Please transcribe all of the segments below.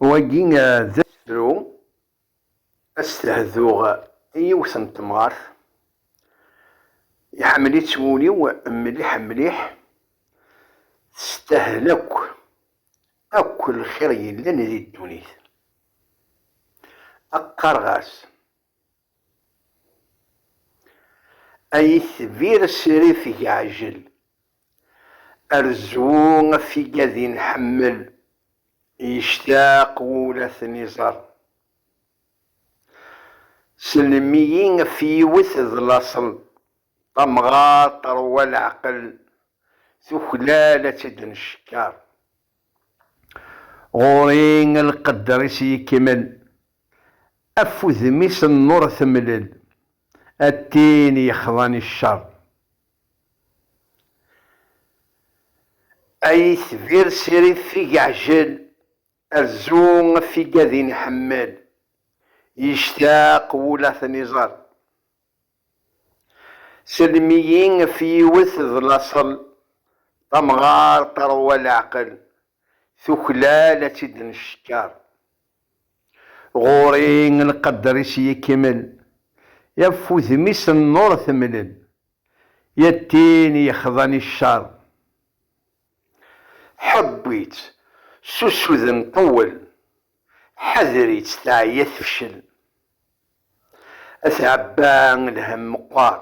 Wagi d asefru ad s-tehduɣ i yiwet n temɣart, iḥemmel-itt wul-iw mliḥ mliḥ, testahel akk akk lxir yellan di ddunit. Qqareɣ-as Ay itbir srif geɛjel. Rzu tiggadin ḥemmel. Yectaq wul ad ten-iẓer. Sellem-iyi ɣef yiwet d laṣel. Tamɣart terwa leɛqel. Tuklal ad tt-id-neckeṛ. Ɣur-i lqedder-is yekmel, af udem-is nnuṛ temlel, a tin yexḍan i cceṛ. A yetbir s irif i yeɛjel, rzu af igadin iḥemmel, yectaq wul a ten-iẓer. Sellem-iyi ɣef yiwet d laṣel, tamɣar teṛwa leɛqel, tuklal ad tt-id-neckeṛ. Ɣur-i lqedder-is yekmel, ɣef wudem-is nnuṛ temlel, ya d tin yexḍan i cceṛ. Ḥewwi-tt s usuden ṭewwel, ḥader-itt teɛya tefcel. At Ɛebba lhemm meqqer,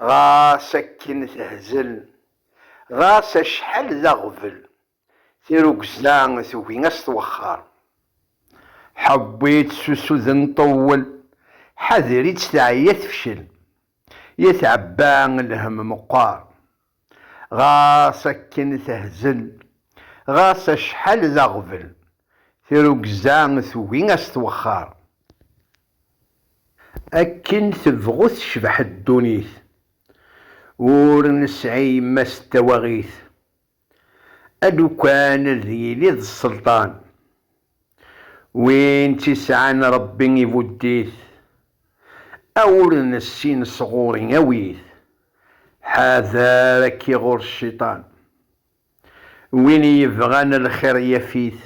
ɣas akken tehzel, ɣas acḥal d aɣbel, tirugza tugi a s-twexxer. Ḥewwi-tt s usuden ṭewwel, ḥader-itt teɛya tefcel. At Ɛebba lhemm meqqer. Ɣas akken tehzel, ɣas acḥal d aɣbel, tirugza tugi a s-twexxer. Akken tebɣu tecbeḥ ddunit, ur nesɛi yemma-s d tawaɣit, alukan ad yili d sselṭan. Win tt-isɛan Ṛebbi ibudd-it, a ur nessin sɣur-i awi-t, ḥader a k-iɣur cciṭan. Win i yebɣan lxir yaf-it,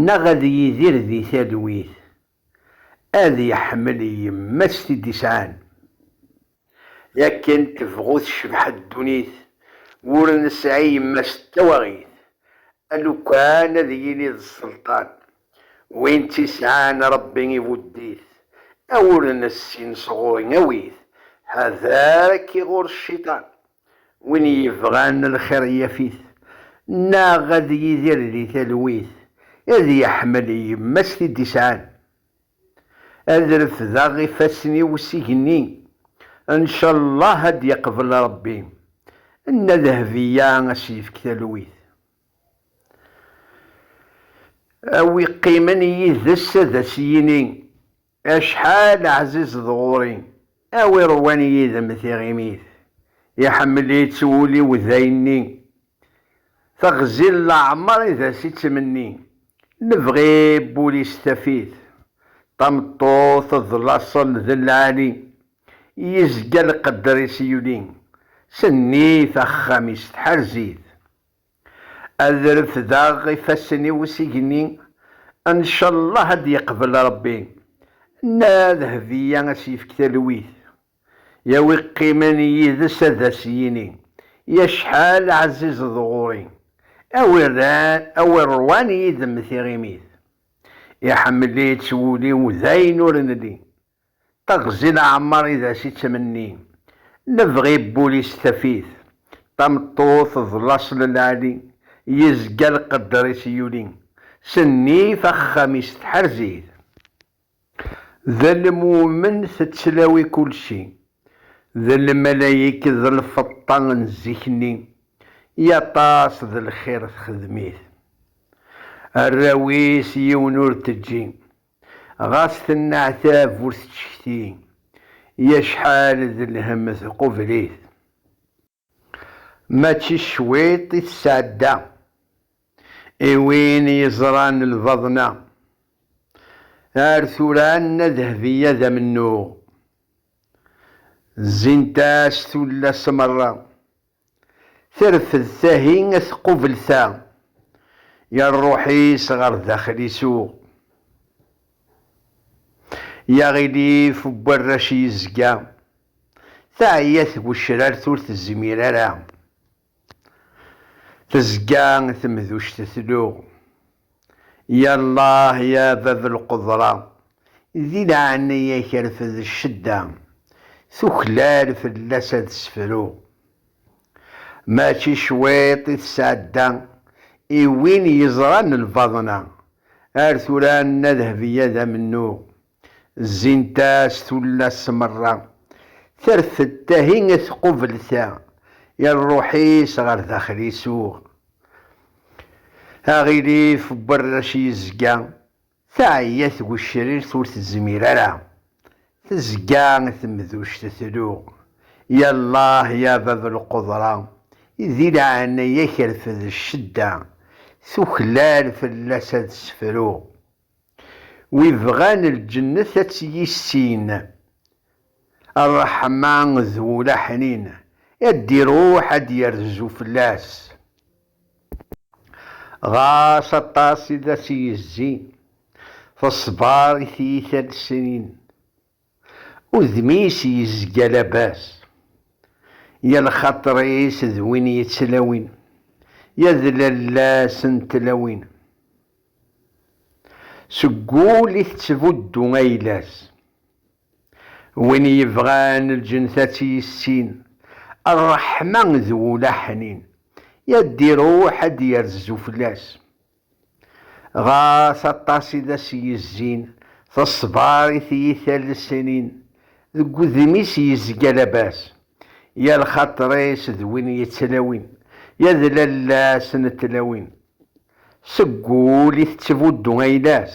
neɣ ad yidir di talwit, ad iḥmel yemma-s t-id-isɛan. I akken tebɣu tecbeḥ ddunit, ur nesɛi yemma-s d tawaɣit, alukan ad yili d sselṭan, win tt-isɛan Rebbi ibudd-it, a ur nessin sɣur-i awi-t, ḥader-k ɣur cciṭan, win yebɣan lxir yaf-it, neɣ ad yidir di talwit, ad yeḥmel yemma-s t-id-isɛan. Ad refdeɣ ifassen-iw s igenni, ncallah ad d-yeqbel Rebbi, Nna Dehbiya a s-yefk talwit. A wi qqimen yid-s ad as-yini, Acḥal ɛzizeḍ ɣur-i! A wi ṛwan yid-m tiɣimit, iḥemmel-itt wul-iw d ayenni, teɣzi n leɛmer i d as ittmenni, lebɣi n wul-is taf-it, tameṭṭut d laṣel d lɛali, yezga lqedder-is yuli, sennit axxam-is tḥerz-it. Ad refdeɣ ifassen-iw s igenni, ncallah ad d-yeqbel Rebbi. Nna Dehbiya a s-yefk talwit, ya wi qqimen yid-s ad as-yini, Yacḥal ɛzizeḍ ɣur-i, a wi ṛwan yid-m tiɣimit. Iḥemmel-itt wul-iw dayen ur nelli, Taɣzi n Ɛemmar i d as ittmenni, Nebɣi n wul-is taf-it, Tameṭṭut d laṣel n lɛali, Yezga lqedder-is yuli, S nnif axxam-is tḥerz-it. D lmumen tettlawi kulci, D lmalayek d lfeṭṭa n zik-nni, I aṭas d lxir texdem-it. Arraw-is yiwen ur teǧǧi, Ɣas tenneɛtab ur tettcekti, i acḥal d lhemm tqubel-it. Mačči cwiṭ i tesɛedda, i win yeẓran lbaḍna. Ar tura Nna Dehbiya d amennuɣ, zzint-as tullas merra. Terfed tahi ad tqubel ta. Ya rruḥ-is ɣer daxel isuɣ. Ya ɣilif n warrac yezga. Teɛya twecrart ur tezmir ara. Tezga temduct tluɣ. Yallah ya bab lqedra, di leɛnaya-k rfed ccedda, tuklal fell-as ad sefru. Mačči cwiṭ i tesɛedda i win yeẓran lbaḍna, ar tura anna Dehbiya d amennuɣ. Zzint-as tullas merra. Terfed tahi tqubel ta. I rruḥ-is ɣer daxel isuɣ. Aɣilif n warrac yezga. Teɛya tgecrirt ur tezmir ara. Tezga temduct tluɣ. Yallah ya bab lqudra. Di leɛnaya-k rfed ccedda. Tuklal fell-as ad sefruɣ. Wi bɣan lǧennet ad tt-yissin, ṛṛeḥma d ulaḥnin ad d-iṛuḥ ad d-yerzu fell-as. Ɣas aṭas i d as-yezzi, teṣber i tyita-nsen. Udem-is yezga labas. Ya lxaṭer-is d win yettlawin. Ya d lalla-s n tlawin. Seg wul i tettbuddu ayla-s. Win yebɣan lǧent ad tt-yissin. Rreḥma d wul aḥnin. Ya d-iruḥ ad d-yerzu fell-as. Ɣer-as aṭas i d as-yezzin, teṣber i tiyita n lesnin, deg wudem-is yezga labas. Ya lxaṭer-is d win yettlawin, ya d lalla-s n tlawin, seg wul i tettbuddu ayla-s.